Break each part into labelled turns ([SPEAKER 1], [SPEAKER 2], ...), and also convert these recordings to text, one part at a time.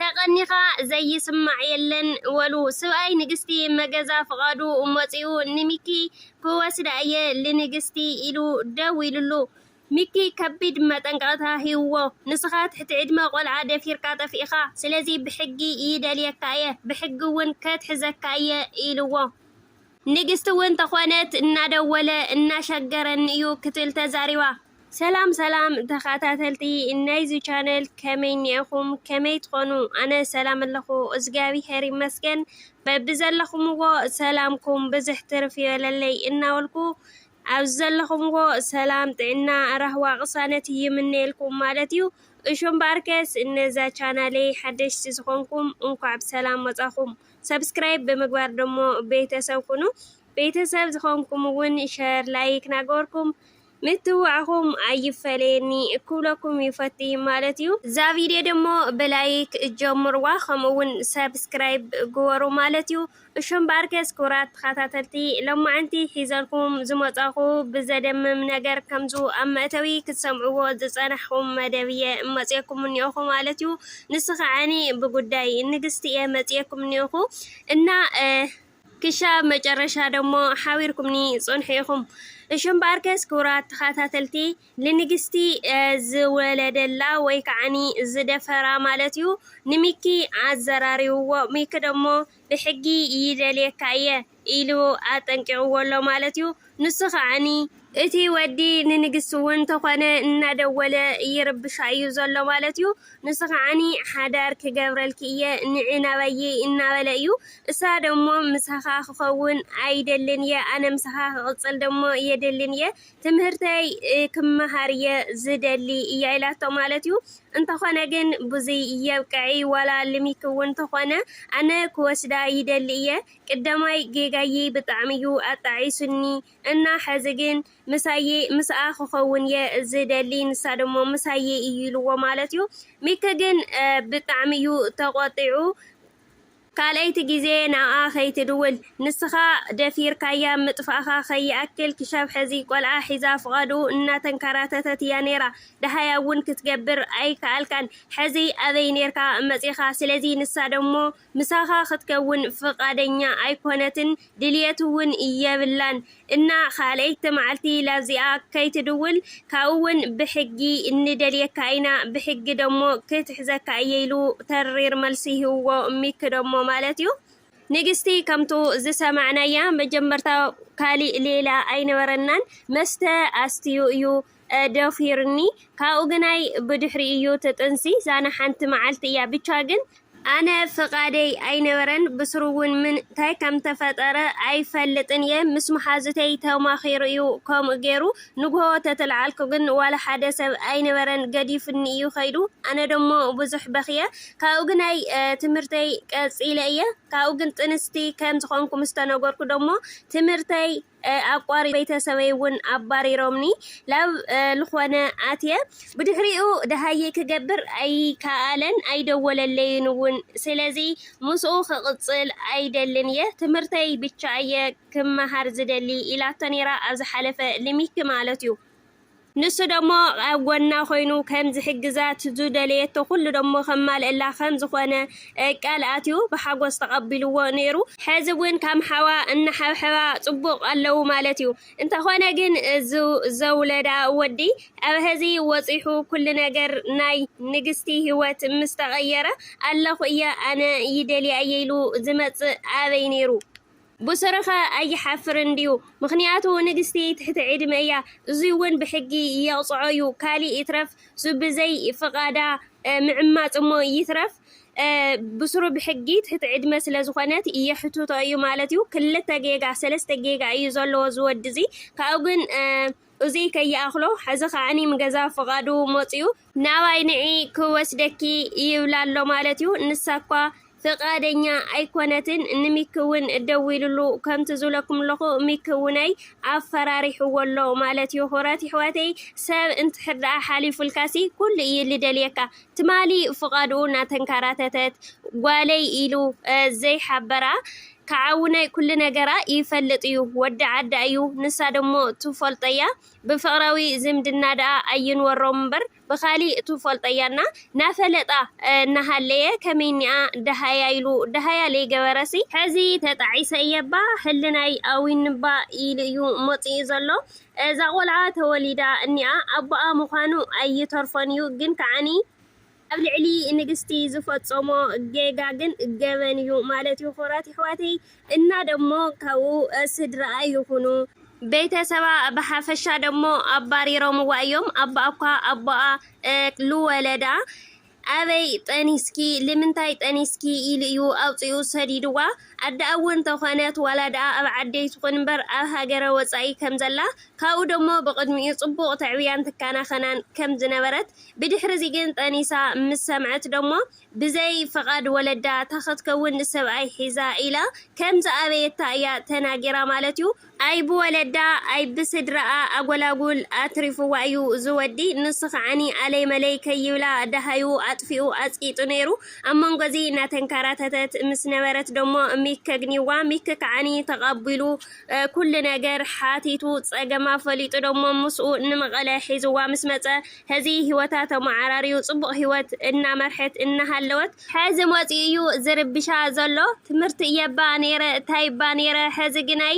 [SPEAKER 1] ተቀኒኻ ዘይስማዕ የለን ወሉ ስብኣይ ንግስቲ መገዛ ፍቃዱ ሞጺኡ ንሚኪ ክወስዳ እየ ልንግስቲ ኢሉ ደዊሉሉ ሚኪ ከቢድ መጠንቀቅታ ሂውዎ ንስኻ ትሕቲ ዕድመ ቆልዓ ደፊርካ ጠፊእኻ ስለዚ ብሕጊ ይደልየካ እየ ብሕጊ ውን ከትሕዘካ እየ ኢልዎ ንግስቲ እውን ተኾነት እናደወለ እናሸገረኒ እዩ ክትብል ተዛሪባ። ሰላም ሰላም ተኻታተልቲ ናይዚ ቻነል ከመይ ኒኤኹም ከመይ ትኾኑ ኣነ ሰላም ኣለኹ እዝጋቢሀር ይመስገን በብዘለኹምዎ ሰላምኩም ብዝሕ ትርፍ ይበለለይ እናበልኩ ኣብዚ ዘለኹምዎ ሰላም ጥዕና ራህዋ ቅሳነት ይምነየልኩም ማለት እዩ እሹም ባርከስ እነዛ ቻናለይ ሓደሽቲ ዝኾንኩም እንኳዕ ብሰላም መጻኹም ሰብስክራይብ ብምግባር ደሞ ቤተሰብ ኩኑ። ቤተሰብ ዝኾንኩም እውን ሸር ላይክ ናገበርኩም ምትዋዕኹም ኣይፈለየኒ ክብለኩም ይፈቲ ማለት እዩ። እዛ ቪድዮ ደሞ ብላይክ ጀምርዋ ከምኡ እውን ሰብስክራይብ ግበሩ ማለት እዩ። እሹ እምበኣርከስ ክቡራት ተኸታተልቲ ሎማዕንቲ ሒዘልኩም ዝመጻኹ ብዘደምም ነገር ከምዙ ኣብ መእተዊ ክትሰምዕዎ ዝጸናሕኹም መደብ እየ መጽየኩም እኒኦኹ ማለት እዩ። ንሱ ከዓኒ ብጉዳይ ንግስቲ እየ መፅኤኩም እኒኦኹ እና ክሻብ መጨረሻ ደሞ ሓቢርኩምኒ ፅንሑ ኢኹም። እሹ እምበኣር ከስ ክቡራት ተኸታተልቲ ልንግስቲ ዝወለደላ ወይ ከዓኒ ዝደፈራ ማለት እዩ ንሚኪ ኣዘራሪብዎ። ሚኪ ደሞ ብሕጊ ይደልየካ እየ ኢሉ ኣጠንቂቕዎ ኣሎ ማለት እዩ። ንሱ ከኣ እቲ ወዲ ንንግስቲ እውን ተኾነ እናደወለ ይርብሻ እዩ ዘሎ ማለት እዩ። ንሱ ከኣ ሓዳር ክገብረልኪ እየ ንዒ ናባየይ እናበለ እዩ። እሳ ደሞ ምሳኻ ክኸውን ኣይደልን እየ ኣነ ምሳኻ ክቕፅል ደሞ የድልን እየ ትምህርተይ ክመሃር'የ ዝደሊ እያ ኢላቶ ማለት'ዩ። እንተኾነ ግን ብዙይ የብቅዒ ዋላ ልሚኪ'ውን ተኾነ ኣነ ክወስዳ ይደሊ እየ። ቅደማይ ጌጋይይ ብጣዕሚ'ዩ ኣጣዒሱኒ እና ሕዚ ግን ምሳይ ምስኣ ክኸውን'የ ዝደሊ ንሳ ደሞ ምሳይ እዩ ኢልዎ ማለት'ዩ። ሚኪ ግን ብጣዕሚ'ዩ ተቖጢዑ። ካልኣይቲ ግዜ ንኣኣ ከይትድውል ንስኻ ደፊርካያ ምጥፋእኻ ከይኣክል ክሻብ ሐዚ ቆልዓ ሒዛ ፍቓዱ እናተንከራተተት እያ ነይራ ደሃይ ኣውን ክትገብር ኣይከኣልካን ሐዚ ኣበይ ነይርካ መፂእኻ ስለዚ ንሳ ደሞ ምሳኻ ክትከውን ፍቓደኛ ኣይኮነትን ድልየት እውን የብላን እና ካልኣይቲ ማዓልቲ ላብዚኣ ከይትድውል ካብኡ እውን ብሕጊ ንደልየካ ኢና ብሕጊ ደሞ ክትሕዘካ እየ ኢሉ ተሪር መልሲ ሂብዎ ሚኪ ደሞ ማለት እዩ ንግስቲ ከምቱ ዝሰማዕናያ መጀመርታ ካሊእ ሌላ ኣይነበረናን መስተ ኣስትዩ እዩ ደፊርኒ ካብኡ ግናይ ብድሕሪ እዩ እቲ ጥንሲ ዛና ሓንቲ መዓልቲ እያ ብቻ ግን ኣነ ፍቃደይ ኣይነበረን ብስሩ ውን ምን ታይ ከምተፈጠረ ኣይፈልጥን እየ ምስ መሓዙተይ ተማኪሩ እዩ ከምኡ ገይሩ ንግሆ ተትልዓልኩ ግን ዋላ ሓደ ሰብ ኣይነበረን ገዲፉኒ እዩ ከይዱ ኣነ ደሞ ብዙሕ በክየ ካብኡ ግናይ ትምህርተይ ቀፂለ እየ ካብኡ ግን ጥንስቲ ከምዝኮንኩ ምስተነገርኩ ደሞ ትምህርተይ ኣቋሪ ቤተሰበይ ውን ኣባሪሮምኒ ላብ ልኾነ ኣትየ ብድሕሪኡ ደሃይ ክገብር ኣይካኣለን ኣይደወለለይን ውን ስለዚ ምስኡ ክቅፅል ኣይደልን እየ ትምህርተይ ብቻ እየ ክማሃር ዝደሊ ኢላቶ ነይራ ኣብ ዝሓለፈ ልሚኪ ማለት እዩ ንሱ ደሞ ኣብ ጎና ኮይኑ ከም ዝሕግዛ ዝደለየቶ ኩሉ ደሞ ከማልእላ ከም ዝኾነ ቃል ኣትዩ ብሓጎስ ተቀቢልዎ ኔሩ። ሐዚ ውን ከም ሓዋ እናሓብሐባ ፅቡቅ ኣለው ማለት ዩ። እንተኾነ ግን እዚ ዘውለዳ ወዲ ኣብ ሀዚ ወፂሑ ኩሉ ነገር ናይ ንግስቲ ሂወት ምስ ተቀየረ ኣለኹ እየ ኣነ ይደልያ እየ ኢሉ ዝመፅእ ኣበይ ኔሩ? ብሱርኸ ኣይሓፍርን ድዩ ምኽንያቱ ንግስቲ ትሕቲ ዕድመ እያ እዙይውን ብሕጊ የቕፅዖ እዩ ካሊእ ይትረፍ ሱብዘይ ፍቓዳ ምዕማፅ እሞ ይትረፍ ብሱሩ ብሕጊ ትሕቲ ዕድመ ስለዝኾነት የሕትቶ እዩ ማለት እዩ ክልተ ጌጋ ሰለስተ ጌጋ እዩ ዘለዎ ዝወዲ እዙይ ካብኡ ግን እዙይ ከይኣኽሎ ሕዚ ከዓኒ ምገዛ ፍቓዱ መፂኡ። ናባይ ንዒ ክወስደኪ ይብላ ኣሎ ማለት እዩ። ንሳ እኳ ፍቓደኛ ኣይኮነትን። ንሚኪ እውን ደዊሉሉ ከምቲ ዝብለኩም ኣለኹ ሚኪ እውነይ ኣፈራሪሕዎ ኣሎ ማለት እዩ። ኹረት ይሕዋተይ ሰብ እንትሕር ደኣ ሓሊፉልካሲ ኩሉ እዩ ልደልየካ። ትማሊ ፍቓድኡ እናተንከራተተት ጓለይ ኢሉ ዘይሓበራ ከዓ ውነይ ኩሉ ነገራ ይፈልጥ እዩ ወዲ ዓዳ እዩ ንሳ ደሞ ትፎልጦያ ብፍቕራዊ ዝምድና ደኣ ኣይንወሮም እምበር ብኻሊእ ትፎልጦያ እና ናፈለጣ እናሃለየ ከመይ እኒኣ ደሃያ ኢሉ ደሃያ ለይገበረሲ ሕዚ ተጣዒሰ እየ እባ ህልናይ ኣዊኑኒ እባ ኢሉ እዩ መፂኡ ዘሎ እዛ ቆልዓ ተወሊዳ እኒኣ ኣቦኣ ምዃኑ ኣይተርፎን እዩ ግን ከዓኒ ኣብ ልዕሊ ንግስቲ ዝፈፀሞ ጌጋ ግን ገበን እዩ ማለት እዩ ክቡራት የሕዋተይ እና ደሞ ካብኡ ስድርኣ ይኹኑ ቤተሰባ ብሓፈሻ ደሞ ኣባሪሮምዋ እዮም ኣባኣኳ ኣቦኣ ልወለዳ ኣበይ ጠኒስኪ ልምንታይ ጠኒስኪ ኢሉ እዩ ኣውጺኡ ሰዲድዋ ኣደኣ እዉን እንተኮነት ዋላ ደኣ ኣብ ዓደይ ትኩን እምበር ኣብ ሃገረ ወጻኢ ከም ዘላ ካብኡ ደሞ ብቅድሚኡ ጽቡቅ ተዕብያን ትካናከናን ከም ዝነበረት ብድሕሪ እዚ ግን ጠኒሳ ምስ ሰምዐት ደሞ ብዘይ ፍቃድ ወለዳ ታክትከዉን ሰብኣይ ሒዛ ኢላ ከም ዝኣበየታ እያ ተናጊራ ማለት እዩ ኣይ ብወለዳ ኣይ ብስድራኣ ኣጎላጉል ኣትሪፍዋ እዩ እዚ ወዲ ንሱ ከዓኒ ኣለይ መለይ ከይብላ ደሃዩ ኣጥፊኡ ኣጽቂጡ ነይሩ ኣብ መንጎ እዚ እናተንከራተተት ምስ ነበረት ደሞ ሚክ ከግኒዋ ሚክ ከዓኒ ተቐቢሉ ኩሉ ነገር ሓቲቱ ጸገማ ፈሊጡ ደሞ ምስኡ ንመቐለ ሒዝዋ ምስ መጸ ሀዚ ህይወታ ተመዓራርዩ ጽቡቕ ህይወት እናመርሐት እናሃለወት ሐዚ መፂኡ እዩ ዝርብሻ ዘሎ ትምህርቲ እየባ ነይረ እታይባ ነይረ ሐዚ ግናይ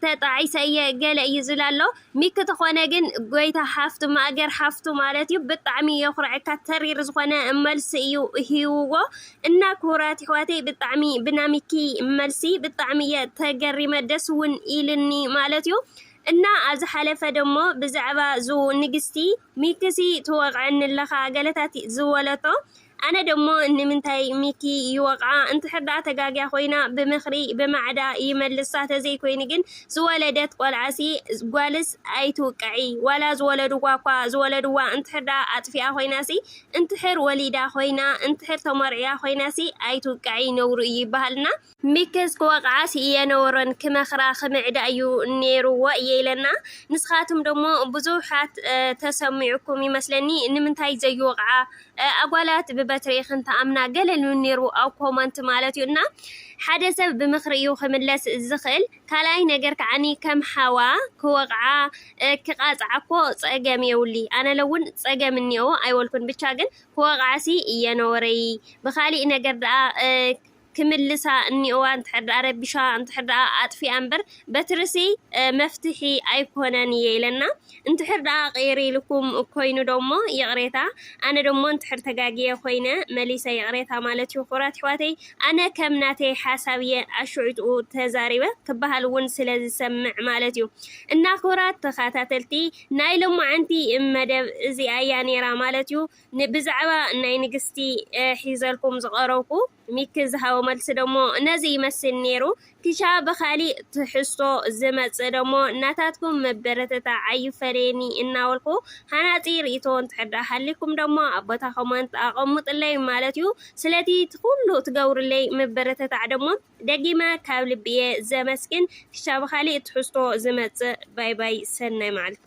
[SPEAKER 1] ተጣዒሰ እየ ገለ እዩ ዝብላ ኣሎ ሚኪ ተኾነ ግን ጎይታ ሓፍቱ ማእገር ሓፍቱ ማለት እዩ ብጣዕሚ የኹርዐካ ተሪር ዝኾነ መልሲ እዩ ሂውዎ እና ክቡራት ይሕዋተይ ብጣዕሚ ብና ሚኪ መልሲ ብጣዕሚ እየ ተገሪመ ደስ እውን ኢልኒ ማለት እዩ እና ኣብ ዝሓለፈ ደሞ ብዛዕባ ዙ ንግስቲ ሚክሲ ትወቕዐኒ ኣለኻ ገለታት ዝበለቶ ኣነ ደሞ ንምንታይ ሚኪ ይወቕዓ እንድሕር ደኣ ተጋግያ ኮይና ብምኽሪ ብማዕዳ ይመልሳ ተዘይኮይኑ ግን ዝወለደት ቆልዓሲ ጓልስ ኣይትውቅዒ ዋላ ዝወለድዋ እኳ ዝወለድዋ እንድሕር ደኣ ኣጥፊኣ ኮይናሲ እንድሕር ወሊዳ ኮይና እንድሕር ተመርዕያ ኮይናሲ ኣይትውቅዒ ነውሪ እዩ ይበሃልና ሚክስ ክወቕዓ ስኢየነወሮን ክመኽራ ክምዕዳ እዩ ኔርዎ እየ ኢለና ንስኻትም ደሞ ብዙሓት ተሰሚዑኩም ይመስለኒ ንምንታይ ዘይወቕዓ ኣጓላት ብበትሪ ክንተኣምና ገለ ልብል ኔርዎ ኣብ ኮመንት ማለት እዩ እና ሓደ ሰብ ብምኽሪ እዩ ክምለስ ዝኽእል ካልኣይ ነገር ከዓኒ ከም ሓዋ ክወቕዓ ክቓጽዓ እኮ ጸገም የውሊ ኣነ ለውን ጸገም እኒኦ ኣይወልኩን ብቻ ግን ክወቕዓ ሲ እየነወረይ ብኻሊእ ነገር ደኣ ክምልሳ እኒኦዋ እንድሕር ድኣ ረቢሻ እንድሕር ድኣ ኣጥፊኣ እምበር በትርሲ መፍትሒ ኣይኮነን እየ ኢለና እንድሕር ድኣ ቕይር ኢልኩም ኮይኑ ዶሞ ይቕሬታ ኣነ ዶሞ እንድሕር ተጋግየ ኮይነ መሊሰ ይቕሬታ ማለት እዩ ኩቡራት ኣሕዋተይ ኣነ ከም ናተይ ሓሳብ እየ ኣሹዑትኡ ተዛሪበ ክበሃል እውን ስለ ዝሰምዕ ማለት እዩ እና ኩቡራት ተኸታተልቲ ናይ ሎማዓንቲ መደብ እዚኣ እያ ነይራ ማለት እዩ ብዛዕባ ናይ ንግስቲ ሒዘልኩም ዝቐረብኩ ሚኪ ዝሃቦ መልሲ ደሞ ነዚ ይመስል ነይሩ። ኪሻ ብኻሊእ ትሕዝቶ ዝመጽእ ደሞ ናታትኩም ምብርትታዕ ኣይፈለየኒ እናበልኩ ሃናጺ ርኢቶ እንተሕዳ ሃሊኩም ደሞ ኣብ ቦታ ኮመንት ኣቐሙጥለይ ማለት ዩ። ስለቲ ኩሉ ትገብሩለይ ምብርትታዕ ደሞ ደጊመ ካብ ልቢ እየ ዘመስግን። ኪሻ ብኻሊእ ትሕዝቶ ዝመጽእ ባይ ባይ ሰናይ መዓልቲ።